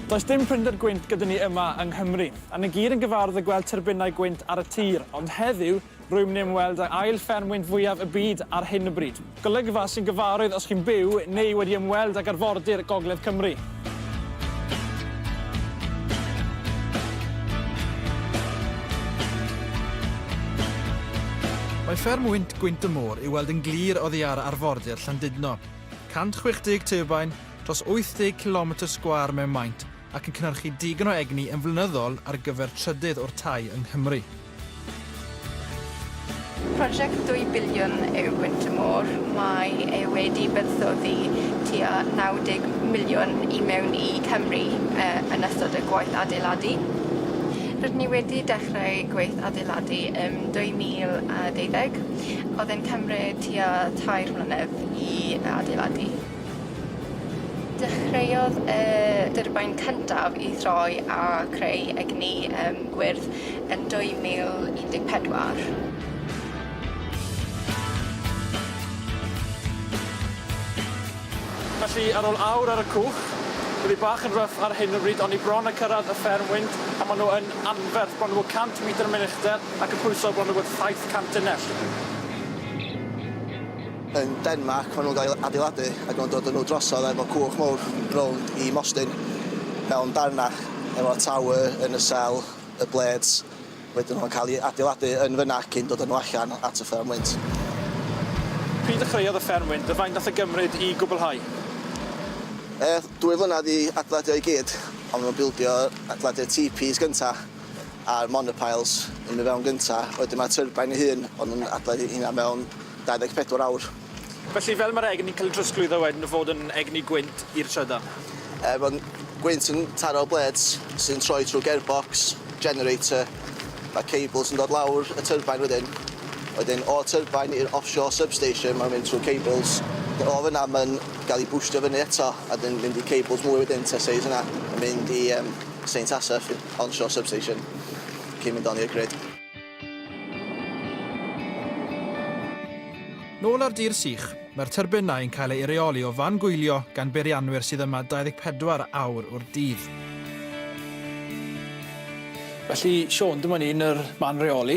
Does dim prinder gwynt gyda ni yma yng Nghymru, a ni gyd yn gyfarwydd â gweld tyrbinau gwynt ar y tir, ond heddiw, rwy'n mynd i ymweld â ail fferm wynt fwyaf y byd ar hyn o bryd. Golygfa sy'n gyfarwydd os chi'n byw neu wedi ymweld ag arfordir Gogledd Cymru. Mae fferm wynt Gwynt y Môr i'w weld yn glir oddi ar arfordir Llandudno. 160 teubain, dros 80 cilometr sgwâr mewn maint, ac yn cynhyrchu digon o egni yn flynyddol ar gyfer trydydd o'r tai yng Nghymru. Prosiect dwy biliwn yw Winter Moor, mae e wedi buddsoddi tua 90 miliwn i mewn i Cymru yn ystod y gwaith adeiladu. Rydyn ni wedi dechrau gwaith adeiladu ym 2012, oedd e'n cymryd tua tair mlynedd i adeiladu. Dechreuodd y dyrbain cyntaf i throi a creu egni um, gwyrdd yn 2014. Felly, ar ôl awr ar y cwch, bydd hi bach yn rough ar hyn o bryd, ond ni bron a cyrraedd y fferm wynt, a maen nhw yn anferth, bron bod 100 metr yn mynd uchder, ac yn pwyso bron bod 700 tunnell. Yn Denmarc maen nhw'n cael eu adeiladu ac maen nhw'n dod â nhw drosodd efo cwch mawr rownd i Mostyn mewn darnau efo tower yn y cell, y blades wedyn nhw'n cael eu adeiladu yn fyna cyn dod â nhw allan at y fferm wynt. Pryd ddechreuodd y fferm wynt a faint nath e gymryd i gwblhau? Aeth dwy flynedd i adeiladu o i gyd ond maen nhw'n bildio, adeiladu'r teepees gynta a'r monopiles yn mynd i fewn gynta wedyn mae turbine ei hun o'n nhw'n adeiladu heina mewn 24 awr. Felly, fel mae'r egni'n cael ei drosglwyddo wedyn o fod yn egni gwynt i'r trydan? Er bod gwynt yn taro'r blêds sy'n troi trwy gearbox, generator, mae cables yn dod lawr y tyrbain wedyn. Wedyn, o'r tyrbain i'r offshore substation, mae'n mynd trwy cables. O fyna, mae'n cael ei bwstio fyny eto a wedyn mynd i cables mwy wedyn, Teseis yna, yn mynd i Saint Asaph, onshore substation, cyn mynd on i'r grid. Nôl ar dir sych, mae'r tyrbinau yn cael eu rheoli o fan gwylio gan beirianwyr sydd yma 24 awr o'r dydd. Felly Siôn, dyma ni yn yr man reoli,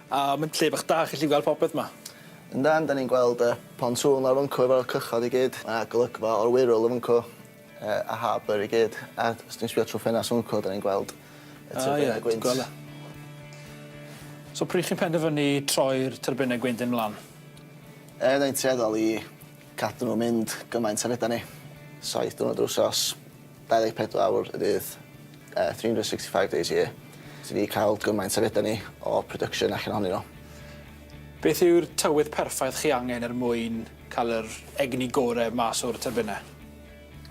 a mae'n lle bach da, chi'n gallu gweld popeth yma. Yndan, 'dan ni'n gweld y pontŵn lawr fyncw efo'r cychod i gyd, a golygfa o'r wŷrwll yn fyncw. a hab yr i gyd a os ti'n sbio trwy ffenast Uncle dan ni'n gweld y turbine gwynt. O ie, ti'n gweld e? So pryd chi'n penderfynu troi'r turbine gwynt hyn mlan? Er da ni'n tueddol i cadw nhw'n mynd gymaint a fedra ni. Saith diwrnod yr wsos, 24 awr y dydd, 365 days a year. Ti di cael gymaint a fedra ni o production allan ohonyn nhw. Beth yw'r tywydd perffaith chi angen er mwyn Cael yr egni gore mas o'r tyrbinau.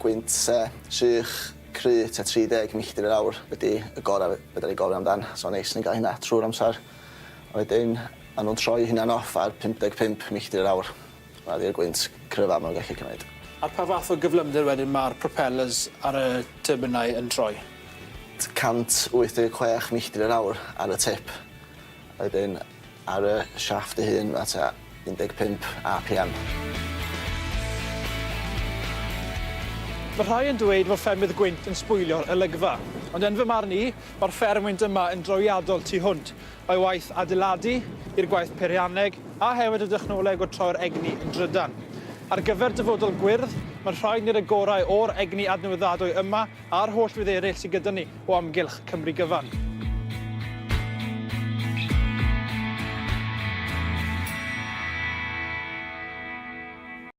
Gwynt sych, cry tua 30 milltir yr awr ydy y gorau fedra i gofio amdan, so neis ni'n gael hynna trwy'r amser. A wedyn maen nhw'n troi eu hunain off ar 55 milltir yr awr. Hwnna ydy'r gwynt cryfaf maen nhw'n gallu cymryd. Ar pa fath o gyflymder wedyn mae'r propellers ar y tyrbinau yn troi? 186 milltir yr awr ar y tip. A wedyn Ar y siafft ei hun mae tua 15 APM. Mae rhai yn dweud fod ffermydd gwynt yn sbwylio'r olygfa. Ond yn fy marn i, mae'r fferm wynt yma yn drawiadol tu hwnt o'i waith adeiladu, i'r gwaith peirianneg, a hefyd y dechnoleg o troi'r egni yn drydan. Ar gyfer dyfodol gwyrdd, mae'n rhaid wneud y gorau o'r egni adnewyddadwy yma A'r holl rydd eraill sydd gyda ni o amgylch Cymru gyfan.